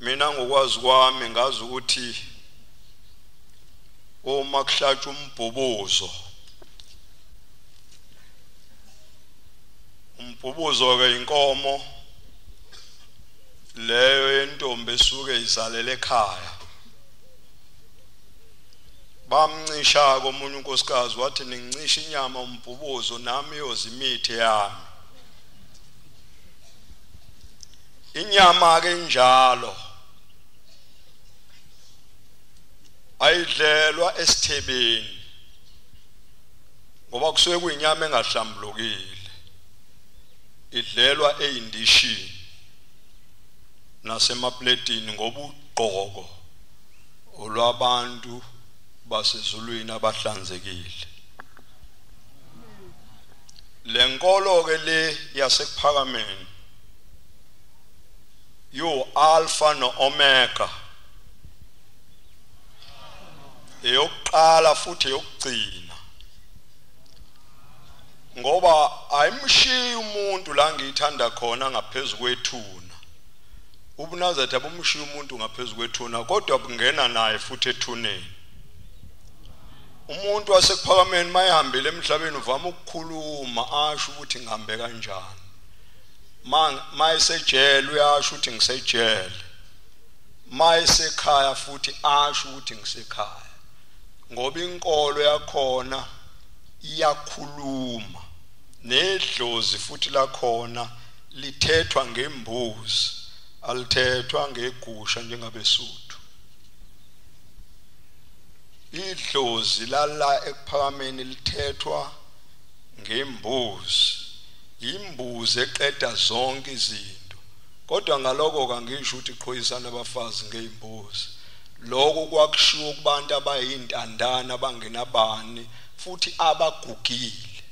mina ngokwazi kwami ngazi ukuthi uma kuhlatshwa umbhubuzo umbhubuzo ke inkomo leyo yentombi esuke izalele ekhaya bamncisha komunye unkosikazi wathi ningincisha inyama umbhubuzo nami yoza imithi yami inyama ke njalo ayidlelwa esithebeni ngoba kusuke kuyinyama engahlambulukile idlelwa eyindishini nasemapletini ngobugqoko olwabantu basezulwini abahlanzekile lenkolo ke le yasekuphakameni you alpha no omega eyokuqala futhi eyokugcina ngoba ayimshiyi umuntu la ngiyithanda khona ngaphezulu kwethuna ubunazathi abumshiyi umuntu ngaphezulu kwethuna kodwa bungena naye futhi ethuneni umuntu wasekuphakameni mayihambile emhlabeni uvama ukukhuluma asho ukuthi ngihambe kanjani mang mayesejele uyasho ukuthi ngisejele mayesekhaya futhi asho ukuthi ngisekhaya ngoba inkolo yakhona iyakhuluma nedlozi futhi lakhona lithethwa ngembuzi alithethwa ngegusha njengabesuthu idlozi lala ekuphakameni lithethwa ngembuzi Yimbuzi eqeda zonke izinto. Kodwa ngaloko kangisho ukuthi qhoyisana abafazi ngeimbuzi. Lokho kwakushiwo kubantu abayintandana abangenabani futhi abagugile.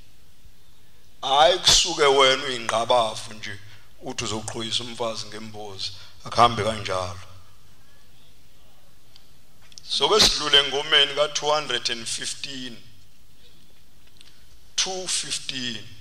Hayi kusuke wena uyingqabafu nje uthi uzoqhoyisa umfazi ngembuzi akuhambe kanjalo. Soke sidlule engomeni ka 215 215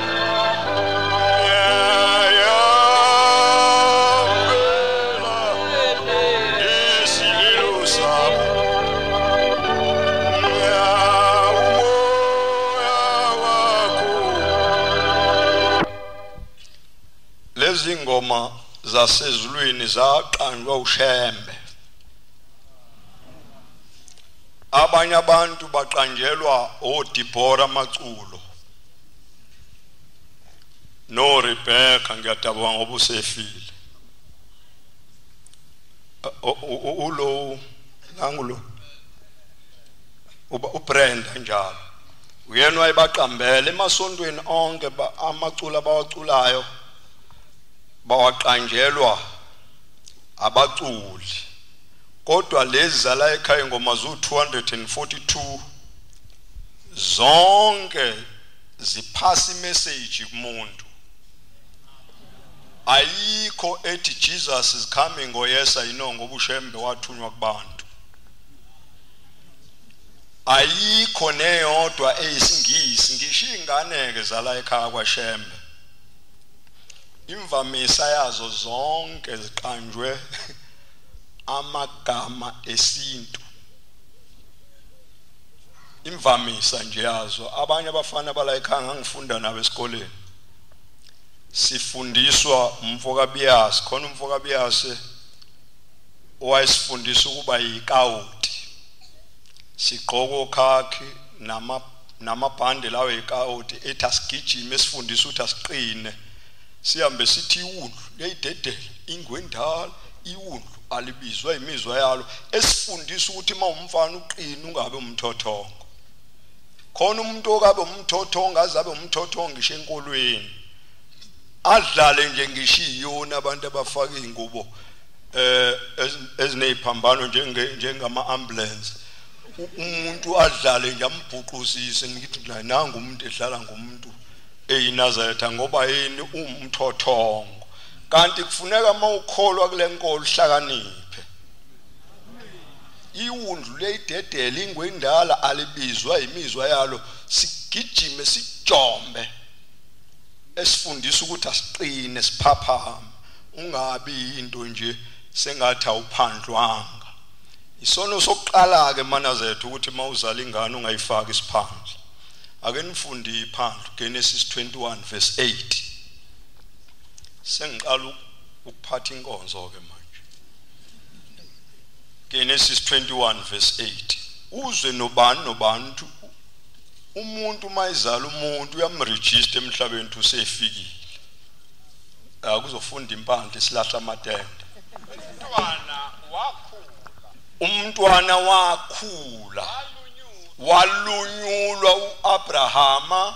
izingoma zasezulwini zaqanjwa ushembe abanye abantu baqanjelwa odibhora amaculo no Rebecca ngiyadabuka ngoba usefile ulo nangulo uba ubrenda njalo uyena wayebaqambele emasontweni onke amaculo abawaculayo bawaqanjelwa abaculi kodwa lezi zala ekhaya ingoma zu 242 zonke ziphasa imessage kumuntu ayikho ethi Jesus is coming or yes I know ngoba ushembe wathunywa kubantu ayikho neyodwa eyisingisi ngisho inganeke zala ekhaya kwaShembe imvamisa yazo zonke ziqanjwe amagama esintu imvamisa nje yazo abanye abafana balayikhaya ngangifunda nabo esikoleni sifundiswa umfo kabiyasi khona umfo kabiyasi owayesifundisa ukuba yikawuti sigqoka okhakhi nama namabhande lawo yikawuti ethi asigijime esifundisa ukuthi asiqine sihambe sithi iwundlu leyidedela ingwendala iwundlu alibizwa imizwa yalo esifundisa ukuthi uma umfana uqina ungabe umthothongo khona umuntu okabe umthothongo azabe umthothongo ngisho enkolweni adlale nje ngisho iyona abantu abafaka izingubo eh ezineziphambano njenge njengama ambulance umuntu adlale nje ambhuquzise ngithi la nangu umuntu edlala ngomuntu eyinazayetha ngoba yini umthothongo kanti kufuneka uma ukholwa kule nkolo uhlakaniphe iwundlu leyidedele ingwendala alibizwa imizwa yalo sigijime sijombe esifundisa ukuthi asiqine siphaphama ungabi into nje sengathi awuphandlwanga isono sokuqala ke mana zethu ukuthi mawuzala ingane ungayifaki isiphandla ake nifunde iphandla Genesis 21 verse 8 sengiqala ukuphatha inkonzo ke manje Genesis 21 verse 8 uzwe nobani nobantu umuntu uma izala umuntu uyamregister emhlabeni ukuthi usefikile akuzofunda impande silahla amatende umntwana wakhula umntwana wakhula walunyulwa uAbrahama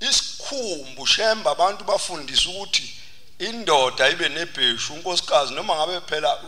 isikhumbu shemba abantu bafundisa ukuthi indoda ibe nebheshu unkosikazi noma ngabe phela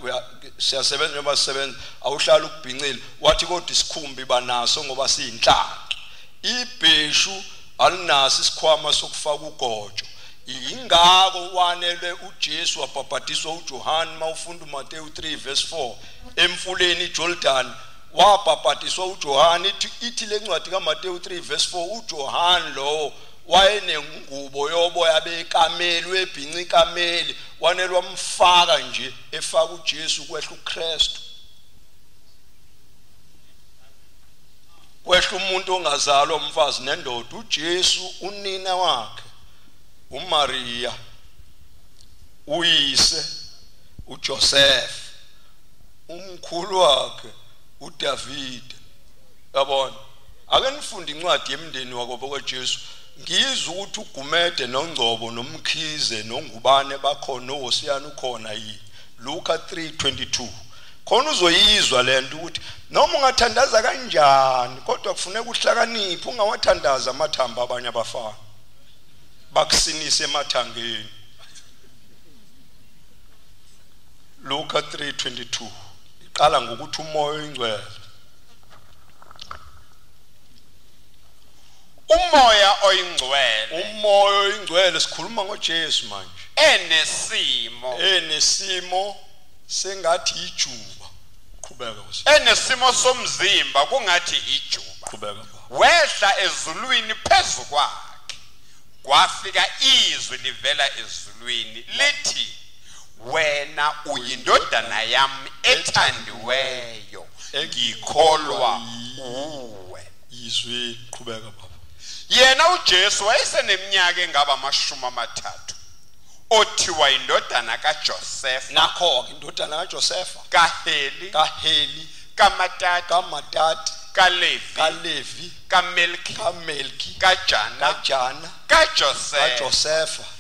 siyasebenza njengoba sisebenza awuhlala ukubhincile wathi kodwa isikhumbi banaso ngoba siyinhlaka ibheshu alinaso isikhwama sokufaka ugotsho ingako wanele uJesu wabhabhadiswa uJohane mawufunda uMateyu 3 verse 4 emfuleni iJordan wabhabhadiswa uJohane ithi ithi lencwadi kaMateyu 3 verse 4 uJohane lowo wayenengubo yoboya bekameli webhinca ikameli wanelwa mfaka nje efaka uJesu kwehla uKristu kwehla umuntu ongazalwa umfazi nendoda uJesu unina wakhe uMaria uyise uJoseph umkhulu wakhe uDavide yabona ake nifunde incwadi yemndeni wakobo kwaJesu ngizwe ukuthi uGumede noNgcobo noMkhize noNgubane bakhona oWosiyana ukhona yini Luka 3:22 khona uzoyizwa lento ukuthi noma ungathandaza kanjani kodwa kufuneka uhlakaniphe ungawathandaza amathamba abanye abafana bakusinise emathangeni Luka 3:22 iqala ngokuthi umoya oyingcwele umoya oyingcwele umoya oyingcwele sikhuluma ngoJesu manje enesimo enesimo sengathi ijuba qhubeka enesimo somzimba kungathi ijuba qhubeka wehla ezulwini phezukwakhe kwafika izwi livela ezulwini lithi wena uyindodana yami ethandiweyo ngikholwa uwe izwi qhubeka baba yena uJesu wayeseneminyaka engaba amashumi amathathu othiwa indodana kaJosefa nakho ke indodana kaJosefa kaHeli kaHeli kaMatati kaMatati kaLevi kaLevi kaMelki kaMelki kaJana kaJana kaJosefa kaJosefa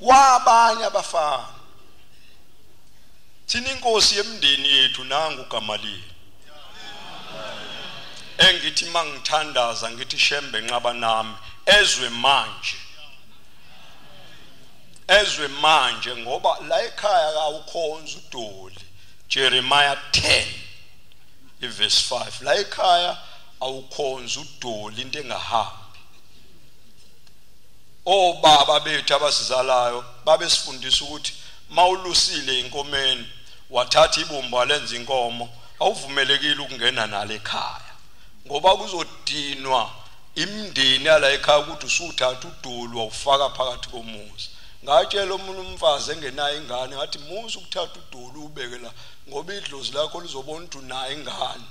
kwabanye abafana thina inkosi yemndeni yethu nangu gamalile engithi mangithandaza ngithi shembe nqaba nami ezwe manje ezwe manje ngoba la ekhaya kawukhonza udoli Jeremiah 10 iverse 5 la ekhaya awukhonza udoli into engahambi Obaba bethu abasizalayo babesifundisa ukuthi mawulusile inkomeni wathatha ibumbu alenza inkomo awuvumelekile ukungena nale ekhaya ngoba kuzodinwa imndeni yala ekhaya ukuthi usuthatha udulu wawufaka phakathi komuzi ngatshela omunye umfazi engenayo ingane ngathi musa ukuthatha udulu ubeke la ngoba idlozi lakho lizobona ukuthi unayo ingane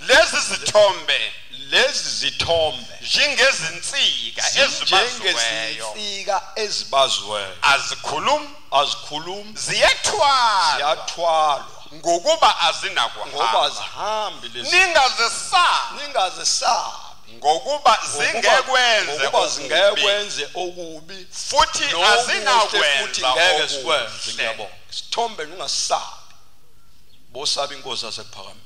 lezi zithombe lezi zithombe njengezinsika ezibaziweyo njengezinsika ezibaziweyo azikhulumi azikhulumi ziyethwala ziyathwalwa ngokuba azinakuhamba ngoba azihambi lezi ningazesabi ningazesabi ngokuba zingekwenze ngokuba zingekwenze okubi futhi azinakwenza okubi ngiyabonga sithombe ningasabi bosabi inkosi asekuphakama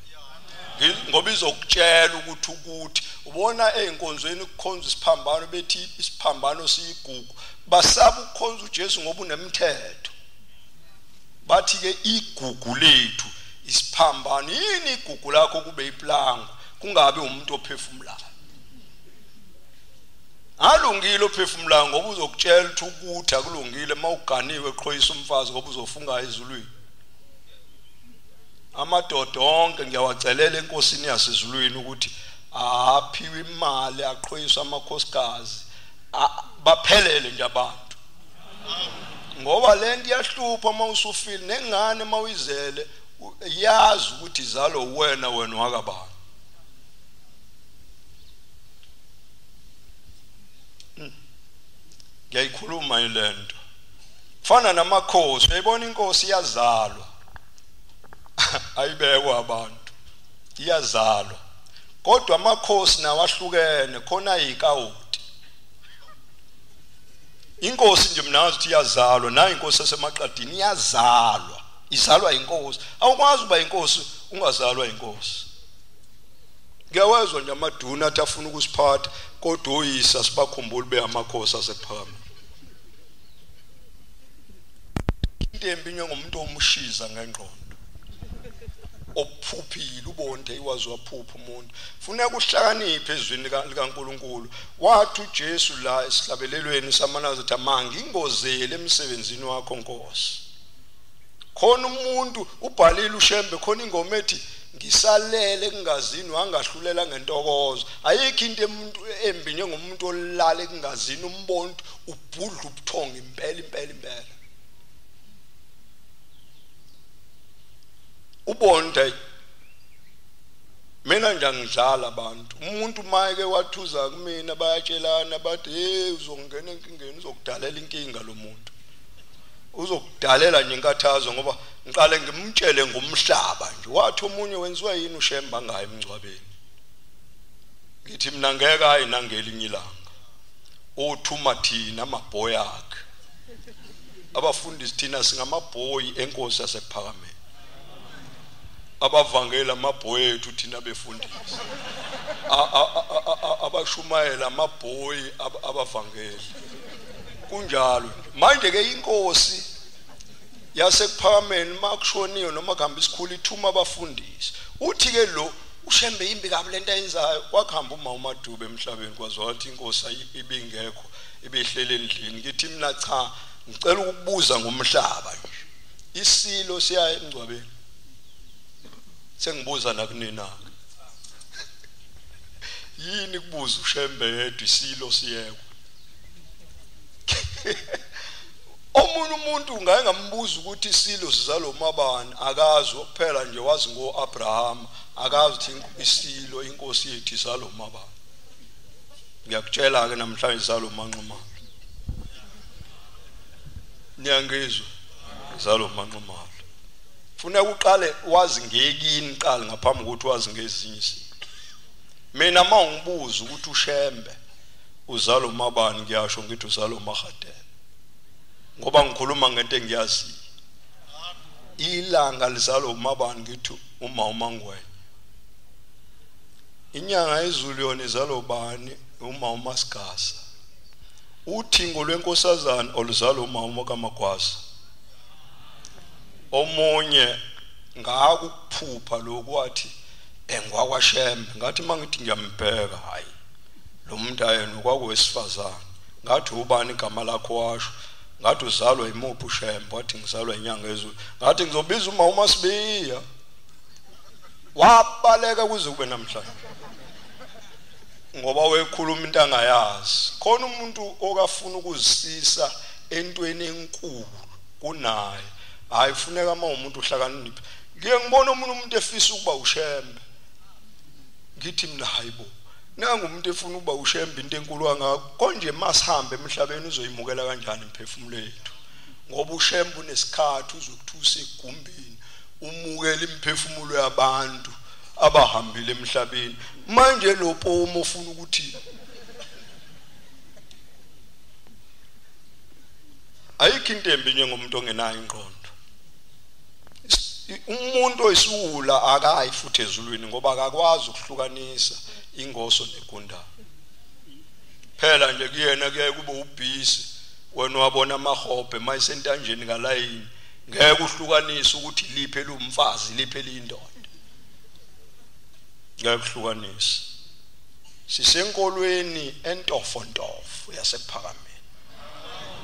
ngoba izokutshela ukuthi ukuthi ubona ezinkonzweni kukhonza isiphambano bethi isiphambano siyigugu basaba ukukhonza uJesu ngoba unemthetho bathi ke igugu lethu isiphambano yini igugu lakho kube iplango kungabe umuntu ophefumulayo alungile ophefumulayo ngoba uzokutshela ukuthi ukuthi akulungile uma uganiwe qhoyisa umfazi ngoba uzofunga ezulwini amadoda onke ngiyawacelela enkosini yasezulwini ukuthi aphiwe imali aqhoyiswa amakhosikazi baphelele nje abantu ngoba le nto iyahlupha uma usufile nengane uma uyizele yazi ukuthi izalo wena wena wakabani hmm. ngiyayikhuluma yile nto kufana namakhosi uyayibona inkosi iyazalwa ayibekwa abantu iyazalwa kodwa amakhosi nawo ahlukene khona yikawuti inkosi nje mnazi ukuthi iyazalwa nayo inkosi esemaqadini iyazalwa izalwa inkosi awukwazi uba inkosi ungazalwa inkosi ngiyawezwa nje amaduna athi afuna ukusiphatha kodwa uyisa sibakhumbule beyamakhosi asekuphakama into embi njengomuntu omushiza ngengqondo ophuphile ubonde iwazi waphupha umuntu funeka uhlakaniphe ezwini likaNkuluNkulu wathi uJesu la esihlabelelweni samanazi ukuthi mangingozele emsebenzini wakho Nkosi khona umuntu ubhalile ushembe khona ingoma ethi ngisalele kungazini wangahlulela ngentokozo ayikho into emuntu embi njengomuntu olala kungazini umbontu budla ubuthongo impela impela impela ubonde mina nje angidlala abantu umuntu mayeke wathuza kumina bayatshelana bathi hey uzongena enkingeni uzokudalela inkinga lo muntu uzokudalela nje inkathazo ngoba ngiqale ngimtshele ngomhlaba nje wathi omunye wenziwa yini ushemba ngayo emngcwabeni ngithi mina ngeke ayinangelinye ilanga othuma thina amabhoyi akhe abafundisi thina singamabhoyi enkosi yasekuphakameni abavangela amabhoyi ethu thina befundisi abashumayela amabhoyi abavangeli kunjalo manje ke inkosi yasekuphakameni makushoniwe noma kuhamba isikhulu ithuma abafundisi uthi ke lo ushembe imbi kabi lento ayenzayo wakuhamba uma umadube emhlabeni kwaze wathi inkosi ibingekho ibihlele endlini ngithi mina cha ngicela ukubuza ngomhlaba nje isilo siya emngcwabeni sengibuza nakunina yini kubuza ushembe yedwa isilo siyekwa omunye umuntu ngaye ngambuza ukuthi isilo sizalwa umabani akazi kuphela nje wazi ngoAbraham akazi ukuthi isilo inkosi yethu izalwa umabani ngiyakutshela ke namhlanje izalwa umanqumalo niyangizwa izalwa umanqumalo funa uqale wazi ngekini qala ngaphambi kokuthi wazi ngezinye izinto mina mawungibuza ukuthi ushembe uzalwa umabani ngiyasho ngithi uzalwa umahadela ngoba ngikhuluma ngento engiyaziyo ilanga lizalwa umabani ngithi uma umangwenya inyanga yezulu yona izalwa ubani uma umasigasa uthingo lwenkosazana oluzalwa uma uma kamagwasa omunye ngakuphupha lokhu wathi engwakwashembe ngathi mangithi ngiyambheka hayi lo muntu ayena okwakowesifazane ngathi ubani igama lakho washo ngathi uzalwa imuphi ushembe wathi ngizalwa inyanga ezulu ngathi ngizobiza uma uma sibiya wabaleka kuze kube namhlanje ngoba wekhuluma into angayazi khona umuntu okafuna ukuzisisa entweni enkulu kunaye hayi funeka uma umuntu uhlakaniphe ngike ngibona omunye umuntu efisa ukuba ushembe ngithi mina hayibo nangu umuntu efuna ukuba ushembe into enkulu kangako konje masihambe emhlabeni uzoyimukela kanjani imphefumulo yethu ngoba ushembe unesikhathi uzokuthusa egumbini umukela imphefumulo yabantu abahambile emhlabeni manje lo pomo ufuna ukuthi ayikho into embi njengomuntu ongenayo ingqondo umuntu oyisiwula akayi futhi ezulwini ngoba akakwazi ukuhlukanisa ingoso negundane phela nje kuyena kuyaye kube ubhisi wena wabona amahobhe mayisentanjeni kalayini ngeke uhlukanise ukuthi liphe lumfazi liphe lindoda ngeke uhlukanise sisenkolweni entofontofo yasephakameni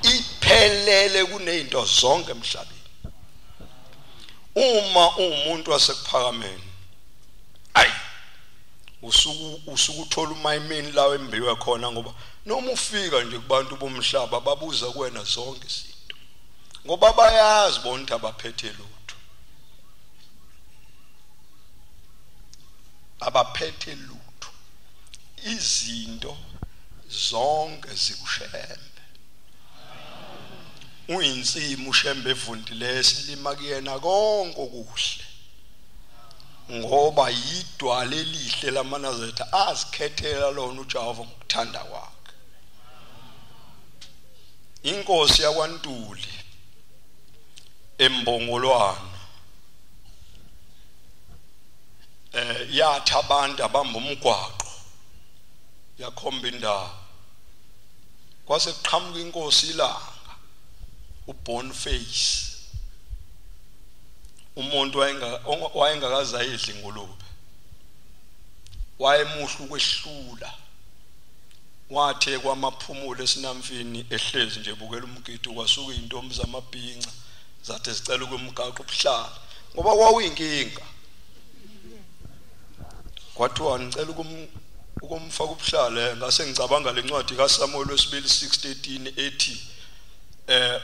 iphelele kunezinto zonke emhlabeni uma uwumuntu wasekuphakameni ayi usuku usuku uthola umayimini lawo embiwe khona ngoba noma ufika nje kubantu bomhlaba babuza kuwena zonke izinto ngoba bayazi bona ukuthi abaphethe lutho abaphethe lutho izinto zonke zikushembe uyinsimi ushembe evundile esilima kuyena konke okuhle ngoba yidwala elihle lamanazetha azikhethela lona uJehova ngokuthanda kwakhe inkosi yakwantuli embongolwana eh yatha abantu abamba umgwaqo yakhomba indawo kwase kuqhamuka inkosi ilanga uborn face umuntu wayengakaze ayidle ingulube wayemuhle ukwehlula wathe kwamaphumulo esinamfini ehlezi nje bukela umgidi kwasuka izintombi zamabhinca zathe zicela ukumgaqa ubuhlala ngoba kwawuyinkinga kwathiwa ngicela ukum ukumfaka ubuhlale ngase ngicabanga lencwadi kaSamuel wesibili 6:13 ethi eh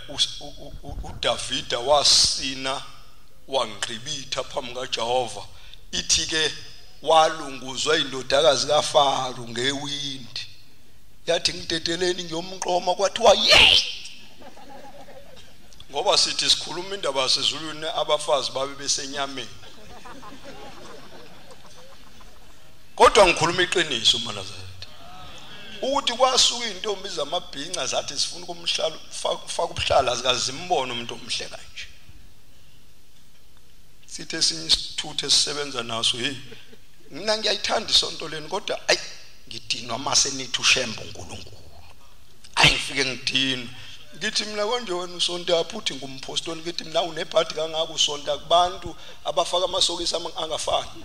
uDavida wasina wangqibitha phambi kaJehova ithi ke walunguzwa indodakazi kaFaro ngewindi yathi ngidedeleni ngiyomqoma kwathiwa yey ngoba sithi sikhuluma indaba sezulwini abafazi babe besenyameni kodwa ngikhuluma iqiniso manazarete ukuthi kwasuka izintombi zamabhinca zathi sifuna ukumhlala ufaka ubuhlala azikazimbona umuntu omhle kanje sithe esinye isithuthe sisebenza naso hey mina ngiyayithanda isonto leni kodwa ayi ngidinwa mase nithi ushembe uNkulunkulu ayi ngifike ngidinwe ngithi mina konje wena usonta aphuthi ngumpostoli ngithi mina unebhadi kangaka usonta kubantu abafaka amasokisi angafani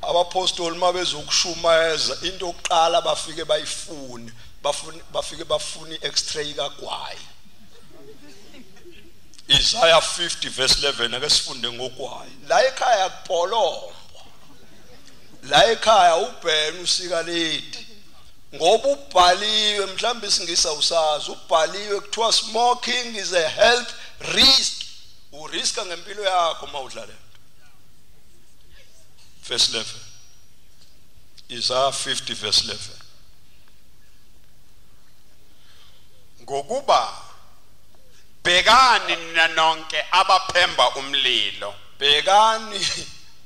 abapostoli uma bezokushumayeza into yokuqala bafike bayifune bafike bafune i-x-ray kagwayi Isaiah 50 verse 11 ake sifunde ngogwayi la ekhaya kupolombo la ekhaya ubhena usika lady ngoba ubhaliwe mhlawumbe isingisa usazi ubhaliwe kuthiwa smoking is a health risk uriska ngempilo yakho uma udla le nto verse 11 Isaiah 50 verse 11 ngokuba bhekani nina nonke abaphemba umlilo bhekani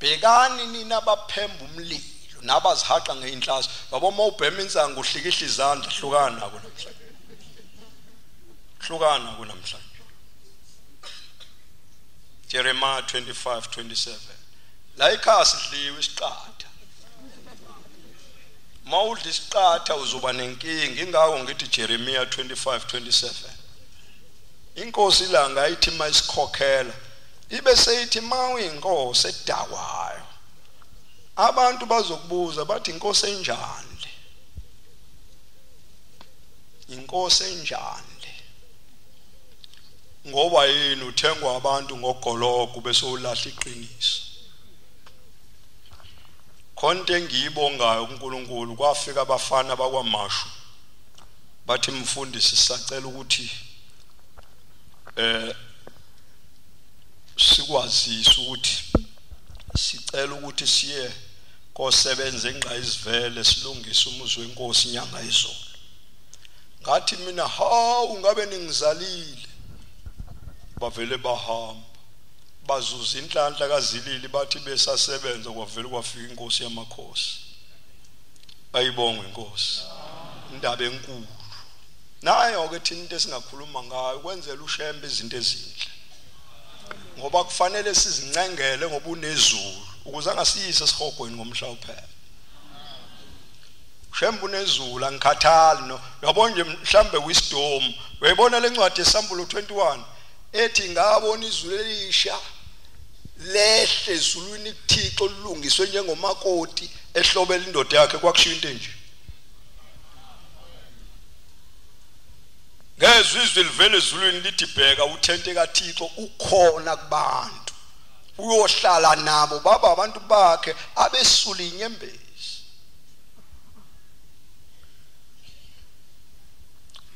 bhekani nina baphemba umlilo nabazihaqa ngeinhlazo babo uma ubhema insangu uhlikihla izandla hlukana kunamhlanje hlukana kunamhlanje Jeremiah 25:27 la ikhaya sidliwe isiqatha mawudla isiqatha uzoba nenkingi ingakho ngithi Jeremiah 25:27 inkosi ilanga ayithi mayisikhokhela ibe seyithi ma uyinkosi edakwayo abantu bazokubuza bathi inkosi enjani le inkosi enjani le ngoba yini uthengwa abantu ngogologo bese ulahla iqiniso khonto engiyibongayo kuNkulunkulu kwafika abafana bakwamashu bathi mfundisi sisacela ukuthi eh sikwazise ukuthi sicela ukuthi siye kosebenza engqayizivele silungise umuzi wenkosi inyanga izolo ngathi mina hawu ngabe ningizalile bavele bahamba bazuza inhlanhla kazilili bathi besasebenza kwavele kwafika inkosi yamakhosi ayibongwe inkosi indaba enkulu nayo ke thina into esingakhuluma ngayo kwenzela ushembe izinto ezinhle ngoba kufanele sizincengele ngoba unezulu ukuze angasiyise esihogweni ngomhla uphela shembe unezulu angikhathali no yabo nje mhlambe wisdom uyayibona lencwadi yesambulo 21 ethi ngabona izulu elisha lehle ezulwini kuThixo lulungiswe njengomakoti ehlobela indoda yakhe kwakushiya into enje ngezwe izwi livele ezulwini lithi bheka uthente kathixo ukhona kubantu uyohlala nabo baba abantu bakhe abesula inyembezi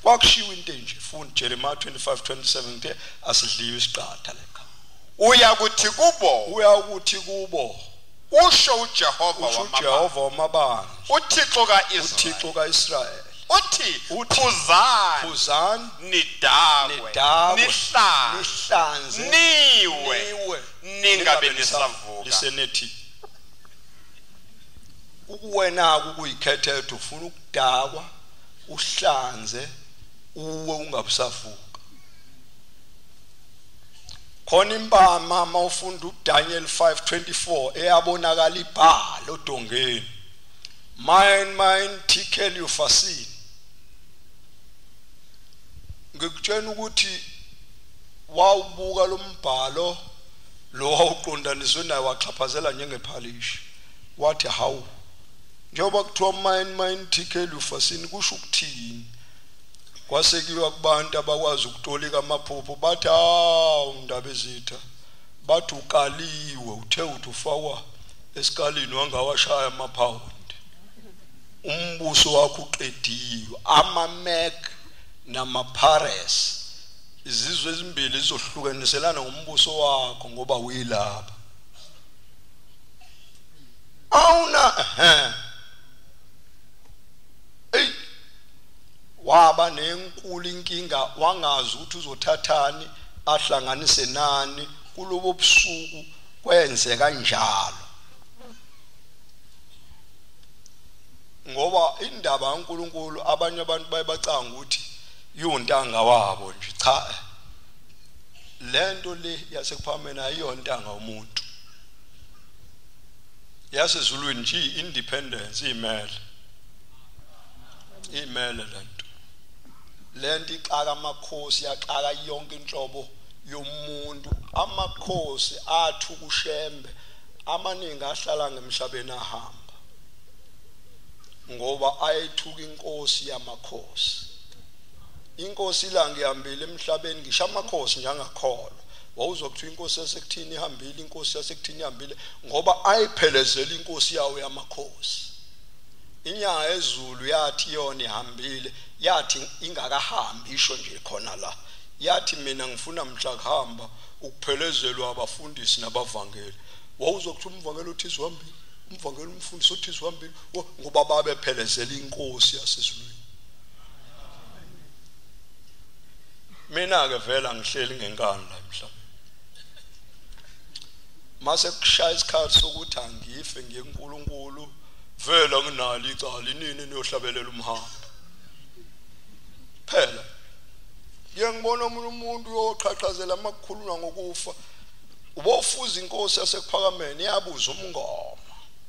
kwakushiwo into enje fundi jeremiya 25 27 ke asidliwe isiqatha le uya kuthi kubo uya kuthi kubo usho ujehova usho wamabandla ujehova wamabandla uthixo kaisrael uthixo kaisrayeli uthi Uthi, phuzani phuzani nidakwe nidakwe nihlanze nihlanze niwe niwe ningabe nisavuka lisenethi ukuwena-ke ukuyikhethetha ufuna ukudakwa uhlanze uwe ungabusavuka khona impama uma ufunda uDaniel 5:24 eyabonakala ibhala odongeni mine mine tikel yofasini ngikutshena ukuthi wawubuka lombhalo lo wawuqondaniswe naye waxhaphazela njengephalishi wathi hawu njengoba kuthiwa mine mine tikel yofasini kusho ukuthini kwase kuyiwa kubantu abakwazi ukutolika amaphupho bathi hawu ndaba ezitha bathi ukaliwe uthe uthi ufakwa esikalini wangawashaya amaphawundi umbuso wakho uqediwe amamek namapares izizwe ezimbili zizohlukaniselana ngombuso wakho ngoba uyilapha awuna ehe waba nenkulu inkinga wangazi ukuthi uzothathani ahlanganise nani kulobo busuku kwenze kanjalo ngoba indaba kaNkuluNkulu abanye abantu baye bacanga ukuthi yontanga wabo nje cha lento le yasekuphameni ayiyontanga umuntu yasezulwini nje independence imele imele lento lento ixaka amakhosi yaxaka yonke inhlobo yomuntu amakhosi athu kushembe amaningi ahlala ngemhlabeni ahamba ngoba ayethuka inkosi yamakhosi inkosi ilanga ihambile emhlabeni ngisho amakhosi njengakholwa wawuzokuthiwa inkosi yasekuthini ihambile inkosi yasekuthini ihambile ngoba ayiphelezela inkosi yawo yamakhosi inyanga ezulu yathi yona ihambile yathi ingakahambi isho nje khona la yathi mina ngifuna mhla kuhamba ukuphelezelwa abafundisi nabavangeli wawuzokuthiwa umvangeli othize wambili umvangeli umfundisi othize wambili ngoba babephelezela inkosi yasezulwini mina-ke vele angihleli ngenkani la emhlabeni mase kushaya isikhathi sokuthi angife ngenkulunkulu vela nginalo icala inini niyohlabelela umhambo phela ngike ngibona omunye umuntu uyoqhaqhazela amakhulula ngokufa ubofuza inkosi yasekuphakameni yabuza umngoma